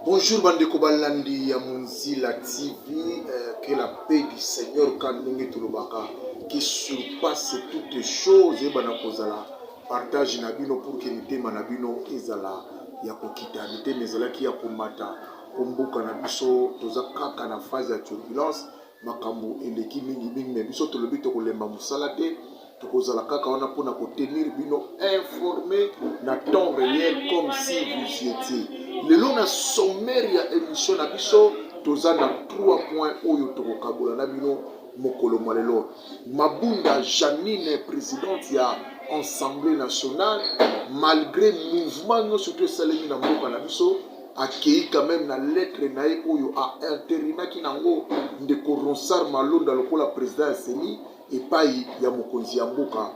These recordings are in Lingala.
Bonjour bandeko balandi ya Munzila TV, euh, que la paix du Seigneur kanongi tolobaka qui surpasse toutes choses et bana kozala partage na bino pour que mitema na bino ezala ya kokita mitema ezalaki ya komata mpo mboka na biso toza kaka na phase ya turbulence makambo eleki mingi mingi me biso tolobi tokolemba mosala te tokozala kaka wana mpona kotenir bino informe na temps réel comme si vous étiez lelo na sommaire ya émission na biso toza na trois points oyo tokokabola na bino mokolo mwa lelo mabunda janine présidente ya assemblée nationale malgré mouvement nyonso to esalemi na mboka na biso akeyi quand meme na lettre na ye oyo a interinaki nango ndeko Ronsard Malonda lokola president ya CENI epai ya mokonzi ya mboka.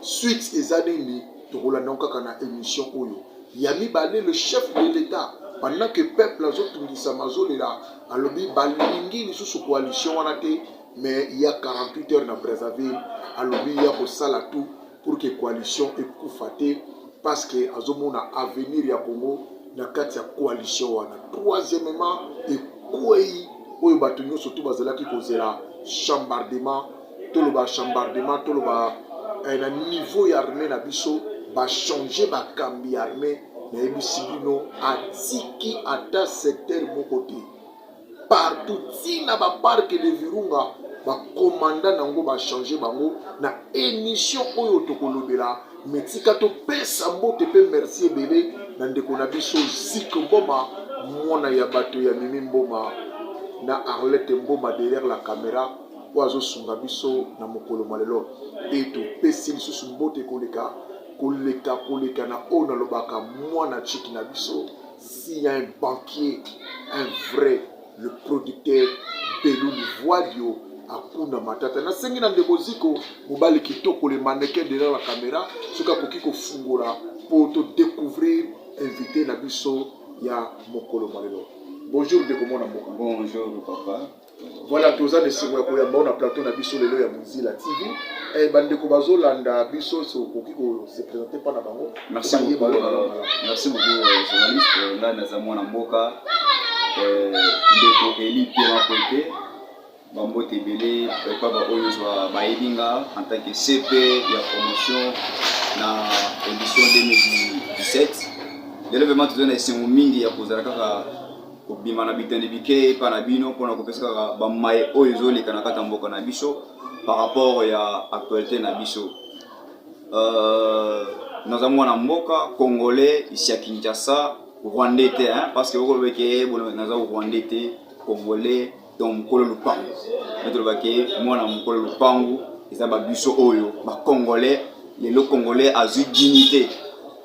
Suite eza nini? Tokolanda yango kaka na emission oyo. Ya mibale, le chef de l'etat pendant que peuple azotungisama azolela, alobi balingi lisusu coalition wana te, mais ya 48 heures na Brazzaville alobi ya kosala tout pour que coalition ekufa te parce que azomona avenir ya Congo na kati ya coalition wana. Troisièmement, ekwei oyo bato nyonso tu bazalaki kozela chambardement, toloba chambardement, toloba eh, na niveau ya armée na biso bachange bakambi ya armée nayebisi bino atiki ata secteur moko te partout ti na ba parc de virunga bakomanda nango bachange bango na emission oyo tokolobela me tika topesa mbote mpe merci ebele na ndeko na biso zik mboma mwana ya bato ya mimi mboma na arlete mboma derrière la camera oyo azosunga biso na mokolo mwa lelo mpe topesi lisusu mbote koleka koleka koleka na oyo nalobaka mwana chiki na biso S'il y a un banquier, un vrai, le producteur Belou Livuadio akunda matata. Nasengi na ndeko Ziko, mobali kitoko, le mannequin derrière la camera, soki akoki kofungola po to découvrir invité na biso ya mokolo malelo. Bonjour ndeko mwana mboka. Bonjour papa. Voilà, toza na esengo ya koyamba yo na plateau na biso lelo ya Mozilla TV. Eh, bandeko bazolanda biso so okoki ko se présenter mpa na bango. Merci beaucoup, euh, merci beaucoup euh, journaliste. Euh, ngai naza mwana mboka euh, ndeko Eli Piema Kwete bambote ebele epa baoyo ozwa bayebi nga en tant que CP ya promotion na édition 2017 lelo vraiment toza na esengo mingi ya kozala kaka kobima na biteni bike epa na bino mpona kopesa kaka bamaye oyo ezoleka na kati ya mboka na biso par rapport ya actualité na biso euh, naza mwana mboka congolais isi ya kinshasa rwandais te hein, parce que okoloba eke eh, naza rwandais te congolais donc mokolo lupangu nde tolobaki mwana mokolo lupangu eza babiso oyo bacongolais lelo congolais azwi dignité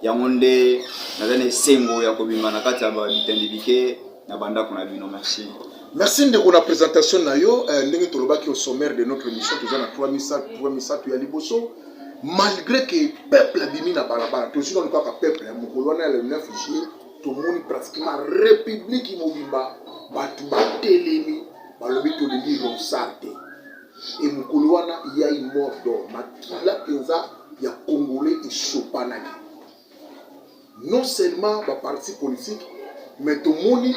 yango nde naza na esengo ya kobima na kati ya bitandi bike na bandako na bino merci merci ndeko na présentation na yo eh, ndenge tolobaki au sommaire de notre émission toza na 3 misato ya liboso malgré que peuple abimi na balabala tozwi nanu kaka peuple ya mokolo wana ya le 9 juillet tomoni pratiquement republiki mobimba bato batelemi balobi tolingi ronsar te e mokolo wana yai mort dor makila mpenza ya congolais esopanaki non seulement baparti politique mais tomoni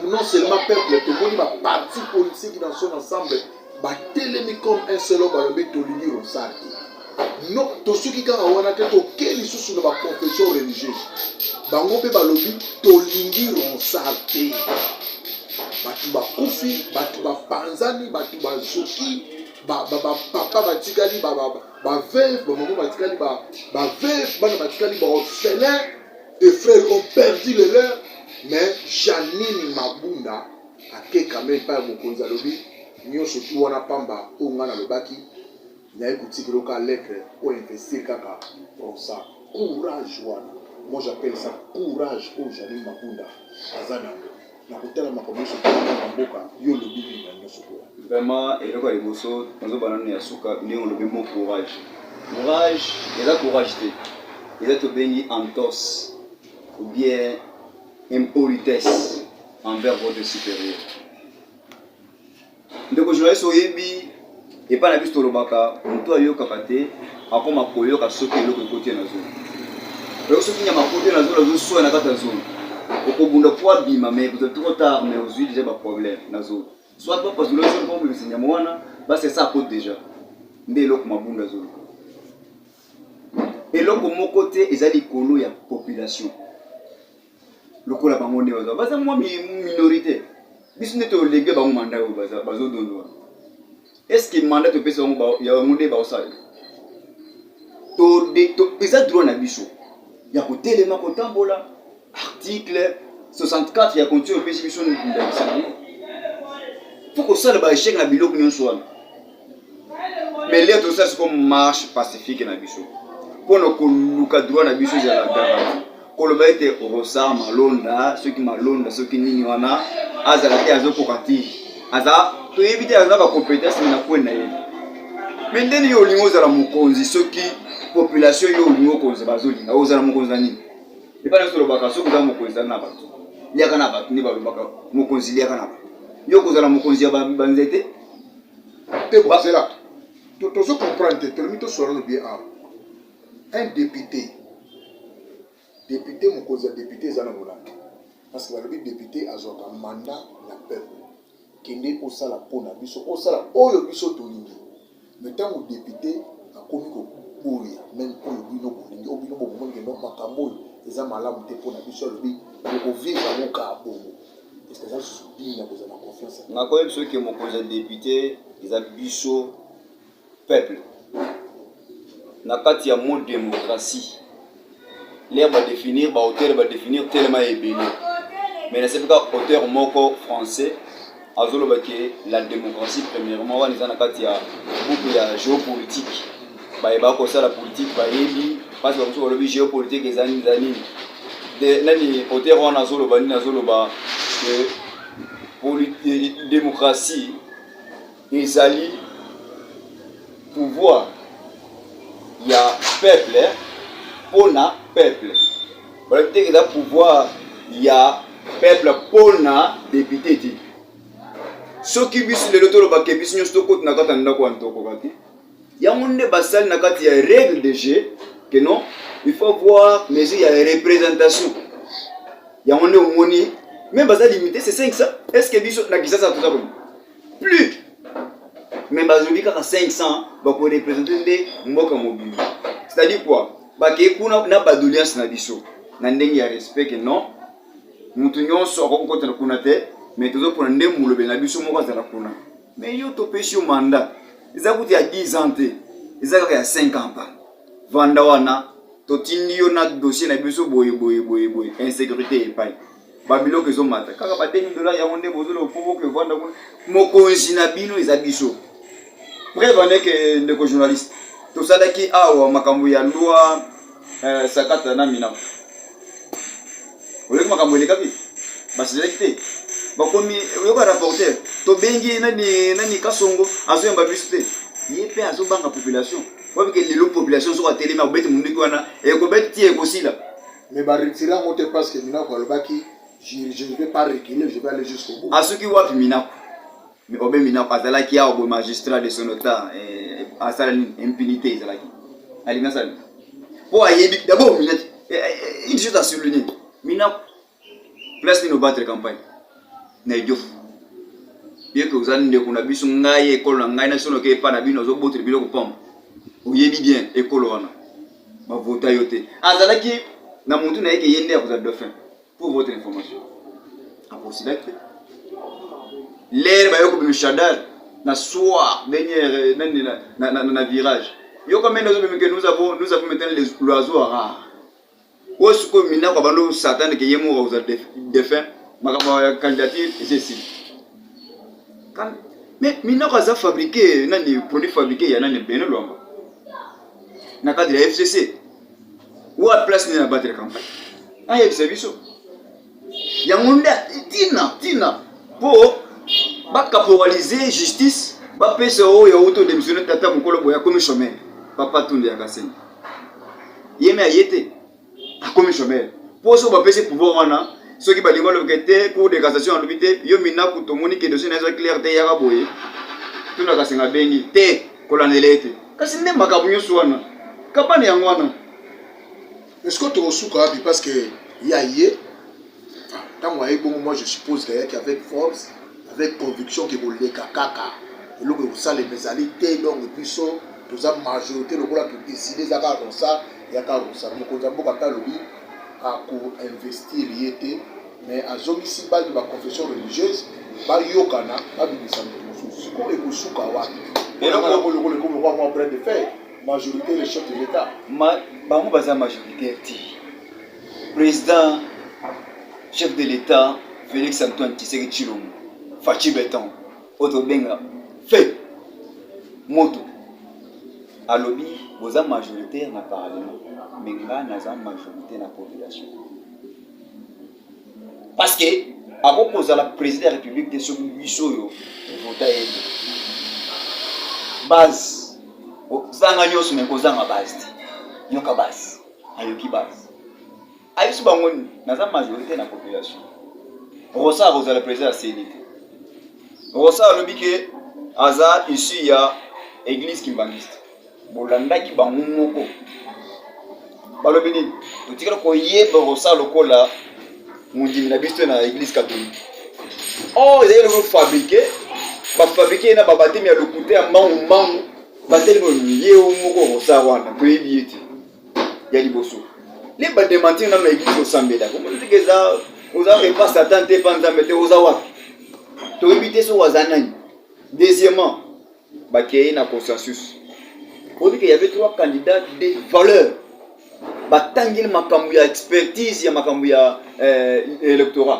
non seulement peuple tomoni baparti politique dans son ensemble batelemi comme un seul homme balobi tolingi rosar te no tosuki kaka wana te toke lisusu na baconfession religieuse bango mpe balobi tolingi ronsar te bato bakufi bato bapanzani bato bazoki bapapa batikali baveve bamama batikali baveve bana batikali baorphelin de frère ont perdu le leur mais janine mabunda Akekame epai ya mokonzi, alobi, Nyonso tuu wana pamba oyo ngai nalobaki, naye kotikela yo kaka lettre ou investir kaka Bronsa. Courage wana moi j'appelle ça courage oyo Janine Mabunda aza na yango na kotala makambo nyonso ekokoma na mboka. Yo olobi nini na nyonso oyo? Vraiment eloko ya liboso nazoba nanu ya suka ndenge olobi mot courage. Courage eza courage te, eza tobengi entorse ou bien impolitesse envers votre supérieur ndeko journaliste oyebi epai na biso tolobaka motu ayokaka te akoma koyoka soki eloko ekoti ye na zolo oyoki soki nyama koti ye na zolo azoswa na kati ya zolo okobunda po abima mai kozwa trop tard mai ozwi deja baproblème na zolo soit bapasula zolo po obimisa nyama wana basesa akote deja nde eloko mabunda zolo eloko moko te eza likolo ya population lokola bango nde baza baza mwa minorité biso nde tolege bango manda oyo bazodondo wana estce manda topesi bango yango nde baosala eza droit na biso ya kotelema kotambola article 64 ya constitution epesi biso ndakisa yango fo kosala baechec na biloko nyonso wana mais lea tosala siko marche pacifique na biso mpo na koluka droit na biso ezala garanti koloba ete rosa malonda soki malonda soki nini wana azala te azokoka te aza toyebi te aza bacompetence na kwe na ye me ndeni yo olingi ozala mokonzi soki population yo olingi okonzi bazolinga ozala mokonzi na nini Epai nyonso olobaka soki oza mokonzi zala na bato, liaka na bato, nde balobaka mokonzi liaka na bato. Yo okozala mokonzi ya banzete te? Bozela tozo comprendre te, tolomi tosolola lobi awa un député député mokonzi ya député eza na molangi parce que balobi député azwaka mandat na peuple kende osala mpo na biso osala oyo biso tolingi me ntango depute akomi koboya meme oyo bino bolingi oyo bino bomoni kendo makambo oyo eza malamu te mpo na biso alobi okovivre yango kaa bongo eske eza lisusu bini ya kozala na confiance nakoyebi biso eke mokonzi ya depute eza biso peuple na kati ya mot démocratie lere badéfinir baauteur badéfinir telema ya ebele mais nasebi kaka auteur moko français azoloba ke la démocratie premièrement wana eza na kati ya buku ya géopolitique baye bakosala politike bayebi mpasi bamosusu balobi géopolitique eza nini eza nini nani auteur wana azoloba nini azoloba que démocratie Ezali pouvoir ya peuple pona peuple. Bala te eza pouvoir ya peuple pona député te. Soki biso lelo toloba ke biso nyonso tokoti na kati ya ndako ya ntokoka te. Yango nde basali na kati ya règle de jeu que non il faut voir mesure ya représentation yango nde omoni me baza limite se 5 est ce que biso na kisasa toza koni plus mais bazongi kaka 500 bakorepresente nde mboka mobimba c'est-à-dire quoi bakei kuna na badoleance na biso na ndenge ya respect non moto nyonso akoki kokotana kuna te mais tozopona nde molobeli na biso moko azala kuna mais yo topesi yo mandat eza kutu ya 10 ans te eza kaka ya 5 ans pa vanda wana totindi yo na dossier na biso boye boye boye boye insécurité epai ba biloko ezomata kaka ba 2000 dollars yango nde bozoloba mpo boke vanda kuna mokonzi na bino eza biso preuve aneke ndeko journaliste tosalaki awa makambo ya loi eh, sakata na mina oyoki makambo elekaki basilaki te bakomi oyoka rapporteur tobengi nani nani kasongo azoyamba biso te ye mpe azobanga population wabike lelo population soki atelemi akobeti monduki wana ekobeti ti ekosila mais ba retire yango te parce que minaku alobaki je ne vais pas reculer je vais aller jusqu'au bout asuki wapi minaku mais obe minaku azalaki awa boye magistrat de son autant eh, asala nini impunité ezalaki alingi asala nini mpo ayebi d'abord minaki eh, eh, une chose à souligner minaku place nini obattre campagne na idiofu yeke oza ndeko na biso ngai ekolo na ngai nasonoke epa na bino ozobotela biloko pamba oyebi bien ekolo wana ba vota yo te azalaki na mutu na ye ke ye nde akozala dauphin pour votre information aposilaki te lere bayo kobima shadar na soir dernière nani na, na, na, na virage yo comme nous avons nous avons nous avons maintenant les l'oiseau rare oyo sikoyo mina kwa bando satan ke ye moko akozala dauphin makambo ya candidature eza esili mais minoko aza fabriqué nani produit fabriqué ya nani bene lwamba na cadre ya fcc wa place nde na battre campagne ayebisa biso yango nde tina tina mpo bakaporalize justice bapesa oyo ya uto demisione tata mokolo boye akomi chomere papa tunde ya kasenga ye me aye te akomi chomeur po soki bapesi pouvoir wana soki balingi balobika te cour de cassation alobi te yo minaku tomoni ke dossier na eza clair te yaka boye tuna kasenga bengi te kolandela ye te kasi nde makambo nyonso wana kabane yango wana esiko tokosuka wapi parce que ya ye tango aye bongo moi je suppose que ayaki avec force avec conviction que koleka kaka eloko ekosalema ezali te donc biso toza majorité lokola to décider eza kaka konsa ya kaka kosala mokonzi ya mboka mpe alobi akoinvestir ye te mais azongisi baki ba confession religieuse bayokana babimisa moto mosusu sikoyo ekosuka wapi elokolokola ekomi kwa mwa brin de fer majorité le chef de l'état bango baza majoritaire te President chef de l'Etat Felix Antoine Tshisekedi Tshilombo Fatshi Beton oyo tobenga fe moto alobi boza majoritaire na parlement me nga naza majorité na population parce que akoki kozala président ya république te soki biso oyo vota ye te base ozanga nyonso me kozanga base te yoka base ayoki basi ayebisi bango nini naza majorité na population rosa akozala président ya ceni te rosa alobi ke aza issu ya église kimbanguiste bolandaki bango moko balobi nini totikala koyeba rosa lokola mondimi na biso na église catholique or oh, ezali eloko fabrike bafabrike ye na babatemi ya lokuta ya mbangu mbangu Bateli boni ye o moko okosa wana toyebi ye te ya liboso le ba dementir na maigisi osambela komoni teke eza oza epa satan te epa nzambe te oza wapi toyebi te soki aza nani deuxièmement bakeye na consensus oyebi ke yave trois candidats de valeur batangeli makambo ya expertise ya makambo ya eh, electorat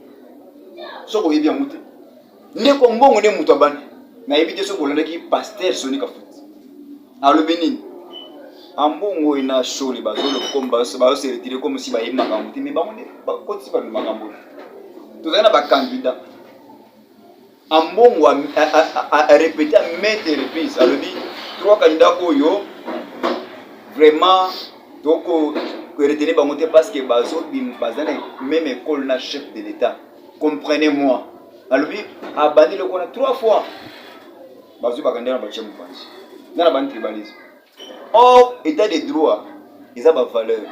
soki oyebi yango te ndeko mbongo nde moto abandi nayebi te soki olandaki paster soni kafuti alobi nini ambongo oyo na shole bazoseretire comme si bayebi makambo te me bango nde bakotisi bato makambo tozali na bakandida Ambongo a, a, a, a, a repete à maintes reprises alobi trois candidats oyo vraiment toko retenir bango te parce que bazo baza na même école na chef de l'État comprenez moi alobi abandi lokona trois fois bazwi bakandida na batie mopanzi nga na bani tribalisme Or, etat de droit, eza ba valeur,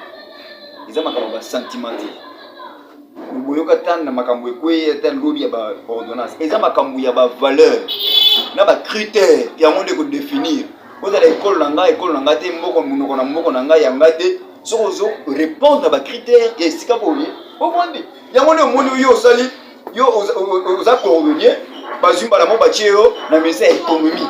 eza makambo ba sentiment te. Boyoka ata na makambo ekweye ata lobi ya ba ordonnance, eza makambo ya ba valeur na ba critère yango nde kodefinir ozala ekolo na ngai ekolo na ngai te mboko monoko na mboko na ngai ya ngai te soki ozo répondre na ba critère ya esika boye ovandi yango nde omoni oyo osali yo oza cordonnier bazwi mbala mo batie yo na ministre ya économie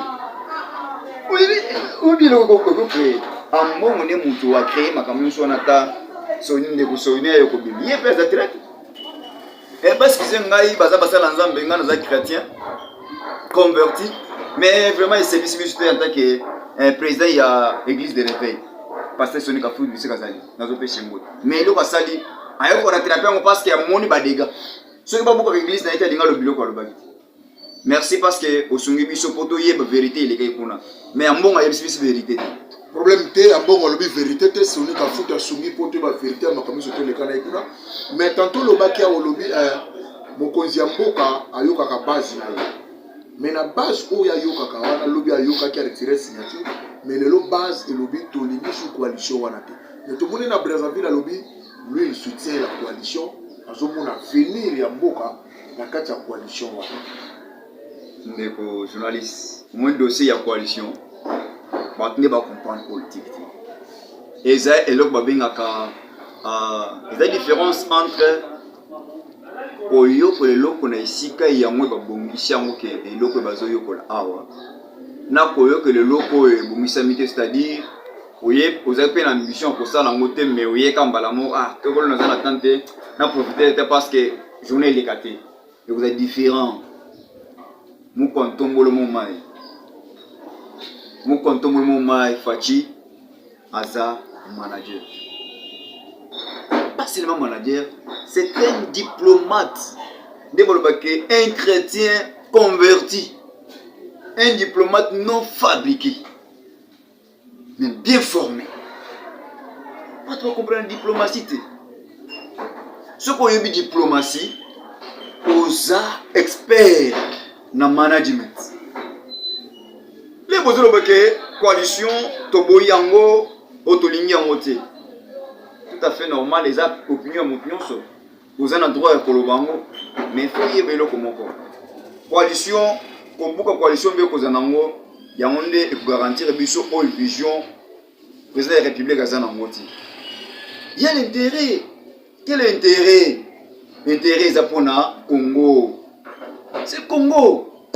oyebi eloko okocree ambongo nde moto acree makambo nyonso wana ata soni ndeko soni ayo kobimi ye mpe aza traite ebaskize eh, ngai baza basala nzambe ngai naza chrétien converti mais vraiment esepisi biso te en tant que eh, président ya église de réveil pasteur soni kafundi biso kazali nazopesa yango mais eloko asali aye ko rattraper yango parce que amoni ba dégâts soki babuka ba église na ye te alinga lo biloko alobaki te merci parce que osungi biso mpo toyeba vérité elekaki kuna mais ya mbongo ayebisi biso vérité te problème te ya mbongo alobi vérité te soni kafuta asungi mpo toyeba vérité ya makambo nyonso toleka na ye kuna mais tanto olobaki awa olobi eh, mokonzi ya mboka ayokaka base na ye mais na base oyo ayokaka wana lobi ayokaki aretire signature mais lelo base elobi tolingi su coalition wana te Mais tomoni na Brazzaville alobi lui il soutient la coalition azomona avenir ya mboka na kati ya coalition wana. Ndeko journaliste, omoni dossier ya coalition bato nde bacomprendre politique te. Eza eloko babengaka uh, eza différence entre koyokola eloko na esika yango babongisi yango ke eloko bazoyokola awa na koyokela eloko oyo ebongisami te c'est-à-dire oye ozali mpe na mission ya kosala yango te mais oye ka mbala moko ah tokolo naza na temps te na profiter te parce que journée eleka te ekozala différent mokwa ntombolo mo mai mokwa ntombolo mo mai faci aza manager pas seulement manager c'est un diplomate nde balobaki un chrétien converti un diplomate non fabriqué mais bien formé bato bakomprana diplomatie te soki oyebi diplomatie oza expert na management le bozoloba ke coalition toboyi yango oyo tolingi yango te tout à fait normal eza opinion ya moto nyonso Oza na droit ya koloba yango, mais faut yeba eloko moko. Coalition, kobuka coalition mbe kozala nango, yango nde ekogarantir biso oyo vision président ya République aza nango ti. Ya l'intérêt, quel intérêt? Intérêt eza pona Congo. C'est Congo.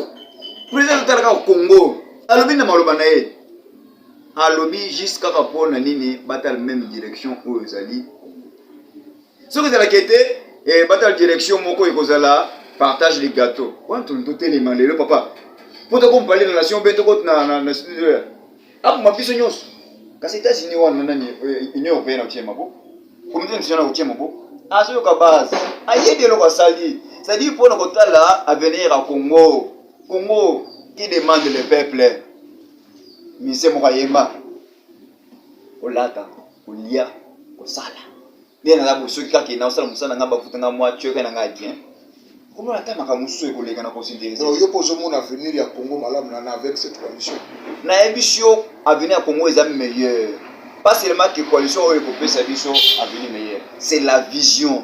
Président azotala kaka Congo. Alobi na maloba na ye. Alobi juste kaka pona nini batala même direction oyo ezali soki ezalaki ete eh, batala direction moko ekozala partage de gâteau wana toni totelema lelo papa mpo tokompale na nation mpe tokoti na studio ya akoma biso nyonso kasi etats-unis wana nani eh, union européenne akotie maboko comité national akotie maboko azoyoka base ayebi eloko asali cestadire mpo na kotala avenir ya congo congo qui demande le peuple mise moko ayemba kolata kolia kosala nde naza bosoki kaka ye naosala mosala na ngai bafuta ngai mwa tioka na ngai bien komona ata makambo mosusu ekoleka na kosinterese yo mpo ozomona avenir ya congo malamu na avec cette coalition nayebisi yo avenir ya congo eza meilleur pas seulement que coalition oyo ekopesa biso avenir meilleur c'est la vision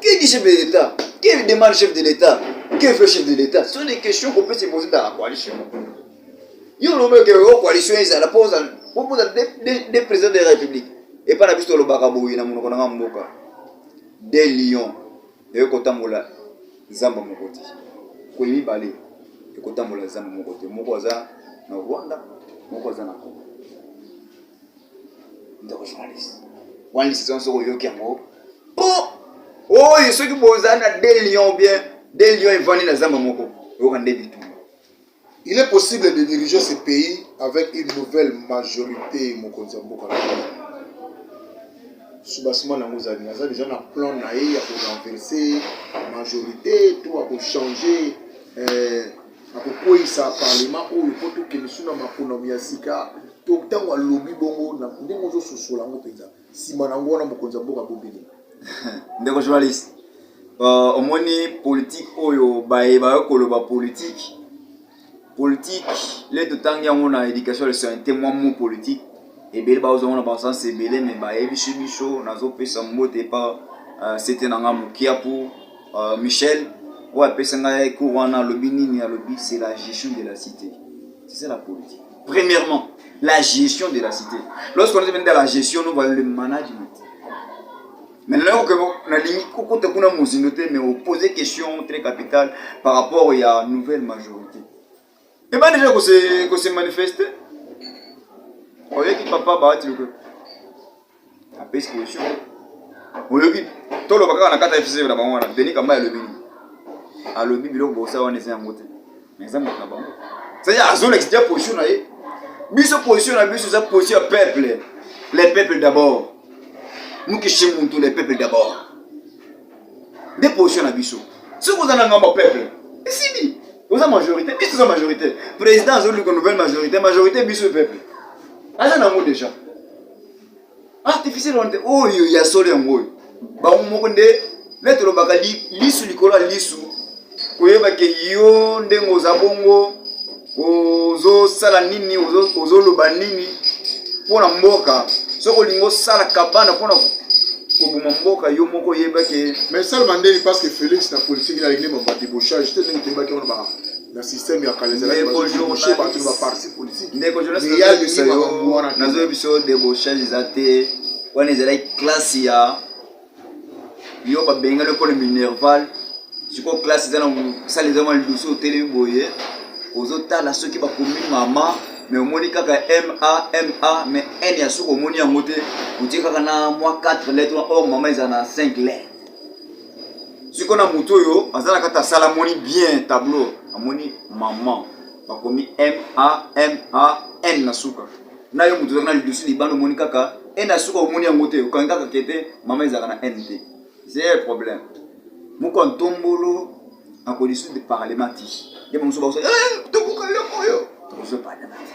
Qui dit chef de l'État Qui demande chef de l'État Qui fait chef de l'État Ce sont des questions qu'on peut se poser dans la coalition. Yo lobe que la coalition est la pose pour poser des présidents de la République. Et pas la piste le bakaboui na monoko na mboka. Des lions. Et kotambola zamba mokoti. Ko mibale. Et kotambola zamba mokoti. Moko aza na Rwanda, moko aza na Congo. ndeko journaliste wana lisizon soki oyoki yango po oyo soki bozali na de lion bien de lion evandi na zamba moko oyoka nde bitumba il est possible de diriger ce pays avec une nouvelle majorité mokonzi ya mboka soubassement nango ezali naza deja na plan na ye ya korenverse majorité to ya kochange euh, Akokweisa parlema oyo mpo tokende su na maponami ya sika to ntango alobi bongo na ndenge ozososola yango mpenza nsima na yango wana mokonzi ya mboka bobele ndeko journaliste uh, omoni politike oyo baye bayo koloba politike politike le totangi yango na éducation le sointe mwa mo politike ebele baozongo na basansi ebele me bayebisi biso nazopesa mbote epa uh, sete na nga mokiapu Uh, Michel, oyo apesa ngai cours wana alobi nini alobi c'est la gestion de la cité c'est ça la politique premièrement la gestion de la cité lorsqu'on est dans la gestion nous voyons le management maintenant que nalingi kokota kuna mozindo te mais opose question très capitale par rapport ya nouvelle majorité ebandi deja kose kose manifeste oyeki papa baati lokola apesi position oyoki toloba kaka na kata fc na bango wana denis kamba alobi nini alobi biloko bosala wana eza yango te mais eza moto na bango c'est-à-dire azolakisa deja position na ye biso position na biso eza position ya peuple les peuples d'abord mukishi muntu les peuples d'abord nde position na biso soki oza na ngambo peuple esili oza majorité biso toza majorité président azoluka nouvelle majorité majorité biso peuple aza nango déjà artificiel wana te oyo ya solo yango oyo bango moko nde nde tolobaka lisu likolo ya lisu koyeba ke yo ndenge oza bongo ozosala nini ozoloba nini mpo na mboka soki olingi osala kabana mpo na koboma mboka yo moko oyebaki mais salma ndeni parce que félix na politique na lingine bamba debauchage te ndenge toyebaki wana ba na système ya kala ezalaki bazoyebisa bato na baparti politique ndeko nazoyebisa yo debauchage eza te wana ezalaki classe ya yo babengani mpona minerval sikoyo classe eza na sala eza mwa lidusu otelemi boye ozotala soki bakomi mama me omoni kaka ma ma me n ya soki omoni yango te otie kaka na mwa 4 lettre or oh, mama eza na 5 lettre sikoyo na moto oyo aza na kati asala amoni bien tableau amoni mama bakomi ma ma n na suka na yo moto ozalaka na lidusu libanda omoni kaka ene ya suka omoni yango te okangi kaka kete mama ezalaka na ene te zee problème moko ya ntombolo akolisi de parlement ti ye bamosusu bakosa eh, tokoka eloko oyo tokozwa parlement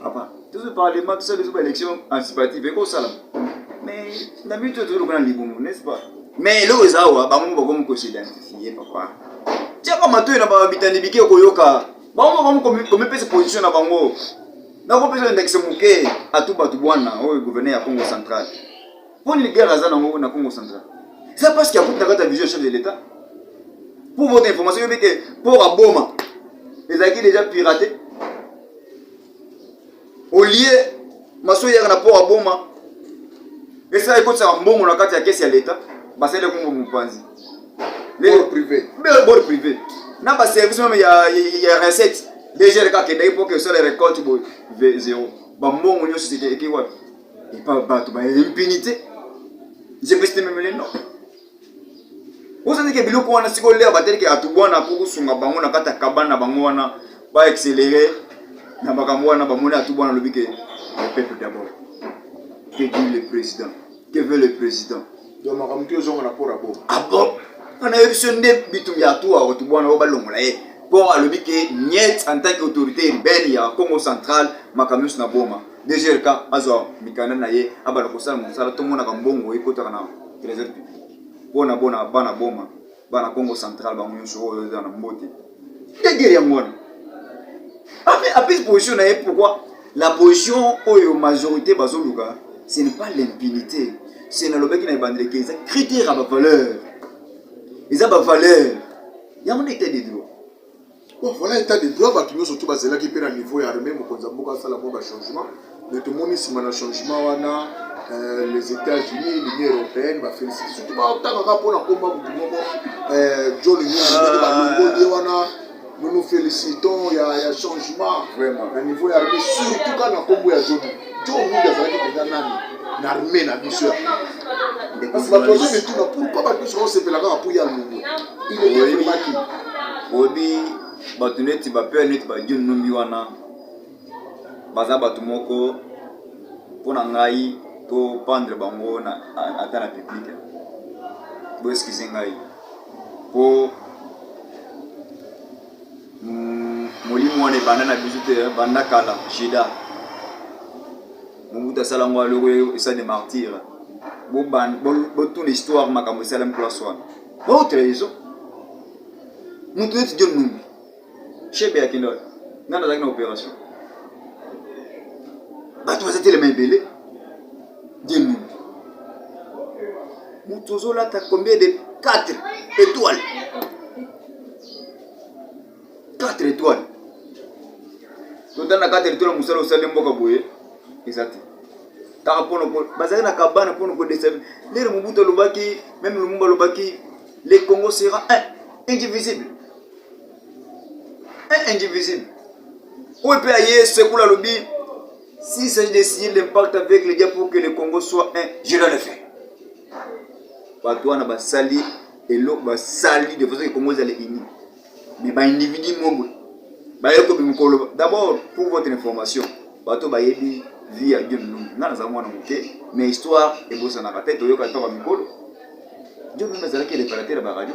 papa tozwa parlement tosala biso baélection anticipative ekosalama mais na biso to tozoloka na libumu n'est ce pas mais eloko eza awa bango moko bakomi kosidentifie papa tiaka matoi na babitani bike okoyoka bango moko bakomi komipesa position na bango nakopesa ndakisa moke atu bato bwana oyo gouverneur ya congo central mpo nini guerre aza nango na congo central eza parce que akuti na kati ya vision chef de l'état pour votre information yobi ke port ya boma ezalaki déjà pirate olie maso eyaka na port ya boma esala ekotisaka mbongo na kati ya kesi ya leta basali kongo mopanzi bord privé bord privé na ba service meme ya ya recette légère kaka kendaki mpo ke osala récolte boye zéro bambongo nyonso eke wapi epa bato ba impunité jepesite meme lelo ozalaki biloko wana siko lere bateleke atubwana kokosunga bango na kati ya kabane na bango wana baaccelere na makambo wana bamoni atubwana alobi ke le peuple d'abord que dit le président que veut le président donc makambo to ezonga na pora bo ah bon wana yebi so nde bitumbi ya tuwa otu bwana oyo balongola ye mpo alobi ke niet en tant que autorité urbaine ya congo central makambo nyonso na boma dgrk azwa mikanda na ye abanda kosala mosala tomonaka mbongo ekotaka na trésor public mpo na bona bana boma bana kongo central bango nyonso oyo eza na mbote nde guerre yango wana apesi position na ye pourquoi la position oyo majorité bazoluka ce n'est pas l'impunité se nalobaki na ebandeli ke eza critère ya bavaleur eza bavaleur yango nde etat de droit Bon, voilà état de droit bato nyonso tu bazelaki mpe na niveau ya armée mokonzi ya mboka asala mwa bachangement mais tomoni nsima na changement wana euh, les états-unis l'union européenne bafélicite surtout baotangaka mpo na komba motu moko euh, john nyonso balongoli ye wana nous nous félicitons ya, ya changement Vraiment. na niveau ya armée surtout ka na nkombo ya john Joe Wood azalaki mpenza nani na arme na biso ya kasi bato bazomituna pourkoi bato biso baosepela kaka mpo ya longwe ileemaki oyebi bato neti bapere neti bajon numbi wana baza bato moko mpo na ngai to pandre bango ata na publike boeskize ngai mpo molimo wana ebanda na biso te banda kala jeda mobutu asala yango aloko esa de martire botuna histoire makambo esalami place wana baotre ezo moto neti john numbi shebe ya kindol nani azalaki na opération bato baza telema ebele john numbi moto ozolata combien de 4 étoiles 4 étoiles totanda 4 étoiles mosala osali mboka boye eza te kaka mpono bazali na kabana mpono kodesa lere mobutu alobaki meme lumumba alobaki le congo sera un indivisible un indivisible oyo mpe aye sekula alobi s'il s'agit de signer l'impact avec le dia pour que le congo soit un je dois le faire bato wana basali eloko basali de façon ekongo ezala ini mais ba individu moko baye kobima koloba d'abord pour votre information bato bayebi vie ya dieu nungu nga naza mwana moke mais histoire ebosanaka te toyoka ntaka mikolo dieu nungu azalaki reparateur ya baradio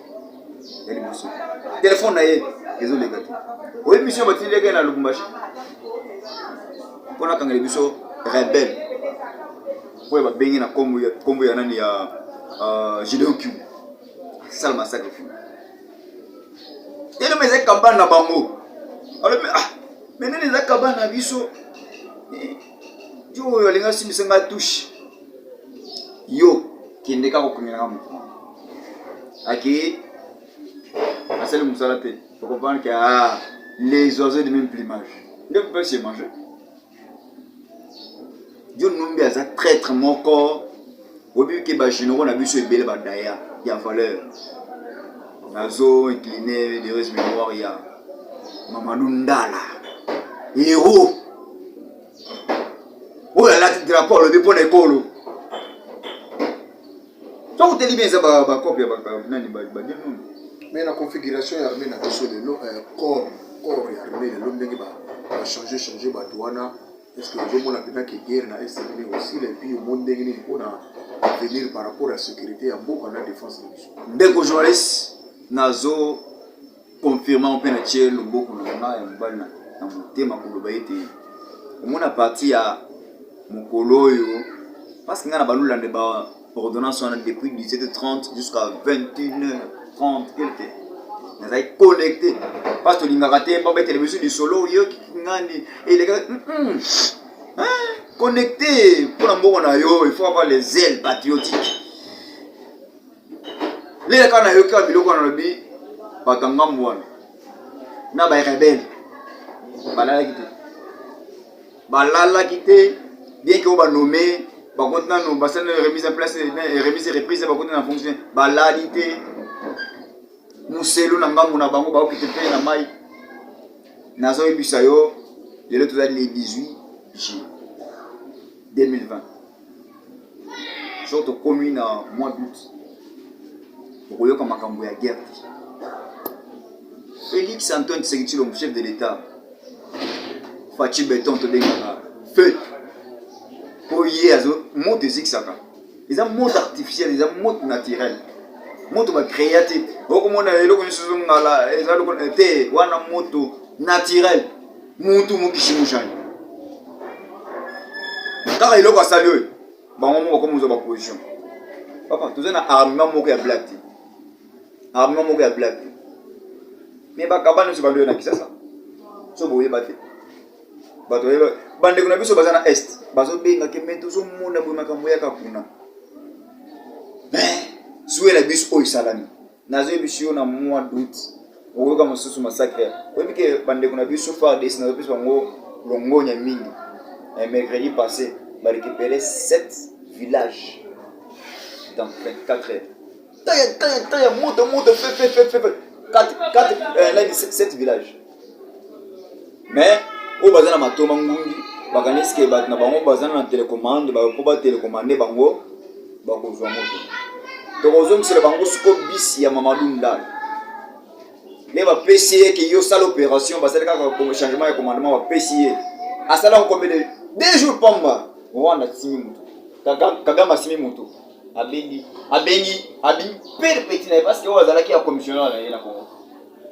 ya liboso telefone na ye ezoleka te oyebi misio batindilaki ye na lubumbashi mpo nakangela biso rebele oyo babengi na nkombo ya nani ya euh, gideon kiu asala masakre fu telema eza kambana na bango alobi ah me nini eza kambana na biso eh, yo oyo alingi asimbisa ngai touche yo kende kaka okomela nga motu moko akei asali mosala te okomprendre ke ah, les oiseaux de même plumage nde kopesi ye mange john nombi aza traitre moko oyebi ke ba généraux na biso ebele ba daya ya valeur nazo incline lereuse mémoire ya mamadou ndala héros oyo alati drapeau alobi mpo na ekolo soki oteli bien eza bacope ya nani bagenoni mais na configuration ya armée na biso lelo corps corps ya armée lelo ndenge bachange change bato wana Est-ce que vous avez vu que guerre na Est est aussi et puis au ndenge nini pour venir par rapport à sécurité à mboka na défense na biso. Ndeko journaliste nazo confirmer mpe na tie loboko na nga ya mobali na motema koloba ete omona parti ya mokolo oyo parce que nga na balula nde ba ordonnance wana depuis 17h30 jusqu'à 21h30 quelque nazali connecté parce tolingaka te babetele biso lisolo oyoki ngani elekaka connecté mpo na mbongo na yo il faut avoir les ailes patriotiques lela kaka nayoki kaka biloko wana nalobi bato ya ngambo wana na barebele balalaki te balalaki te bien que ba nommé bakoti nano basali remise en place remise reprise bakoti na fonction balali te muselu na ngambo na bango baokite mpe na mai nazoyebisa yo lelo tozali le 18 juillet 2020 soki tokomi na mois d'août okoyoka makambo ya guerre te félix antoine tshisekedi tshilombo chef de l'état faci beton tobengaka feu mpo ye azo moto ezikisaka eza moto artificiel eza moto naturel moto bacrea te okomona eloko nyonso ezongala eza te wana moto naturel mutu mokisi mojani kaka eloko asali oyo bango moko bakomi kozwa baposition papa toza na armement moko ya black te armement moko ya black te me bakaba nyonso bando oyo na kisasa so boyeba te bato bayeba bandeko na biso baza na est bazobengake me tozomona boye makambo yaka kuna suela biso oyo esalami nazo yebisi yo na mois d'août okoyoka mosusu massacre oyebi ke bandeko na biso fardes nazopesa bango longonya mingi eh, mercredi passé barécupere 7 village dans 24 heures taya taya taya moto moto fefefefefe 7 village mais oyo baza na matoma ngungi bakanisi ke bato na bango baza na telecommande bapo batelecommande bango bakozwa moto tokozongisela bango siko bisi ya mamadu ndala nde bapesi ye ke yo sala opération basali kaka changement ya commandement bapesi ye asala nkombele deux jours pamba rwanda asimi moto kagame asimi moto abengi abengi abimi pere peti na ye parce que oyo azalaki ya commissionnaire na ye na congo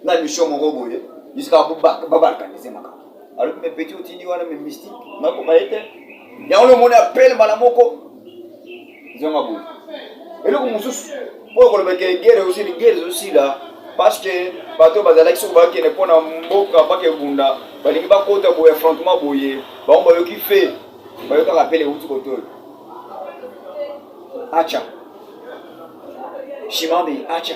na mission moko boye jusqu'à babalkanize makambo alobi me petit otindi wana me mystique nakoba ye te yango lomoni apele mbala moko zonga boye eloko mosusu oyo kolobaka egere osili gere ezosila parce que bato oyo bazalaki soki bakende mpo na mboka mpaka ebunda balingi bakota boye affrontement boye bango bayoki fe bayokaka apele euti kotoyo acha shimambe acha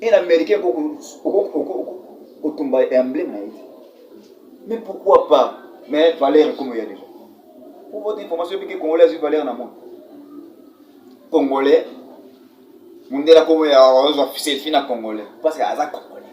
Et l'américain kotumba emblème na ye te. Mais pourquoi pas? Mais valeur comme il y a déjà. Pour votre information, il y a des Congolais qui ont valeur dans le monde. Congolais, mundela komo ya ozwa selfie na congolais parce que aza congolais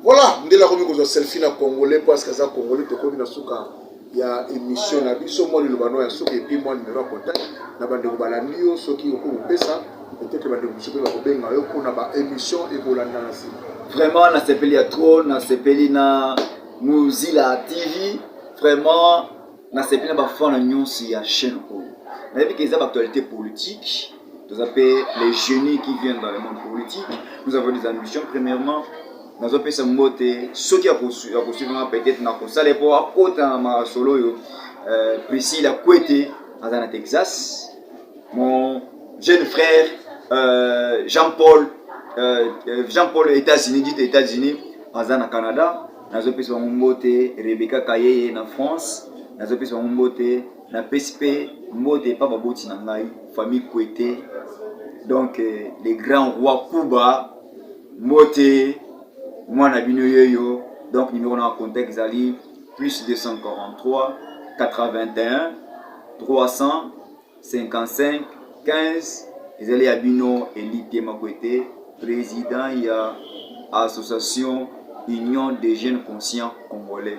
voilà ndela komi kozwa selfie na congolais parce que aza congolais tokomi na suka ya emission na biso mwa liloba no ya suka epi mwa numero ya contact na bandeko balandi yo soki okoki kopesa peut-être bandeko mosusu mpe bakobenga yo mpona ba émission ekolanda na nsima vraiment nasepeli ya trop nasepeli na mozila tv vraiment nasepeli na bafana nyonso ya chaîne oyo nayebi ke eza baactualité politique toza mpe les génies qui viennent dans le monde politique nous avons des ambitions premièrement nazopesa mbote soki ya kosuiva nga peut-être nakosala mpo akota na masolo oyo euh, priscilla kwete aza na texas mon jeune frère euh, jean paul euh, euh jean paul états-unis dit états-unis aza na canada nazopesa bango mbote rebeka kayeye na france nazopesa bango mbote napesi mpe mbote epa baboti na ngai famille kwete donc euh, le grand roi kuba Mbote mwana na bino yeyo donc numero na contact ezali plus 243 81 355 15 ezali ya bino elite makwete president ya association union des jeunes conscients congolais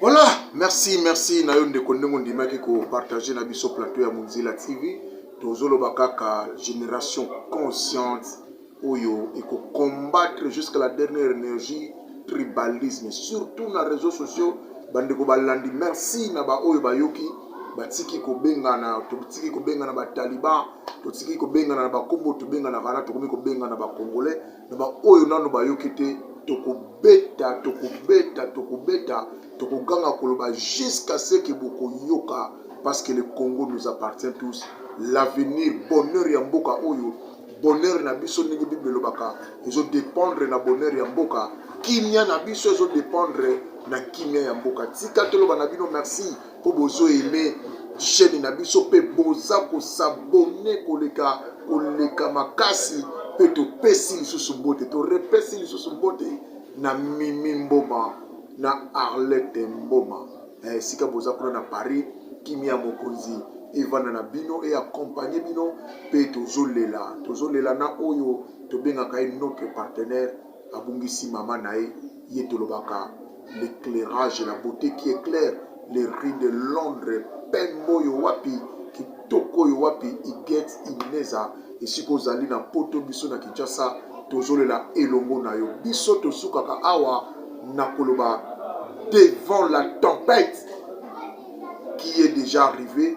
Voilà, merci, merci na yo ndeko ndenge ondimaki ko partager na biso plateau ya Munzila TV. Tozoloba kaka génération consciente oyo eko combattre jusqu'à la dernière énergie tribalisme surtout na réseaux sociaux bandeko balandi merci na baoyo bayoki batiki kobengana totiki kobengana bataliban totiki kobengana na bakombo tobenganaka wana tokomi kobengana bacongolais na baoyo nano bayoki te tokobeta tokobeta tokobeta tokoganga koloba jusqu'à ce que bokoyoka parce que le congo nous appartient tous l'avenir bonheur ya mboka oyo bonheur na biso ndenge bible elobaka ezodépendre na bonheur ya mboka kimia na biso ezodépendre na kimia ya mboka tika toloba na bino merci mpo bozo aime chaîne na biso mpe boza kosabone koleka koleka makasi mpe topesi lisusu mbote torepesi lisusu mbote na mimi mboma na arlete mboma eh, esika eh, boza kuna na paris kimia mokonzi evanda na bino e accompagne bino mpe tozolela tozolela na oyo tobengaka ye notre partenaire abungisi maman naye ye tolobaka l'eclairage la beaute qui eclaire les rues de Londres pembe oyo wapi kitoko oyo wapi Huguette Ineza esika ozali na poto biso na Kinshasa tozolela elongo na yo biso tosukaka awa na koloba devant la tempête qui est déjà arrivée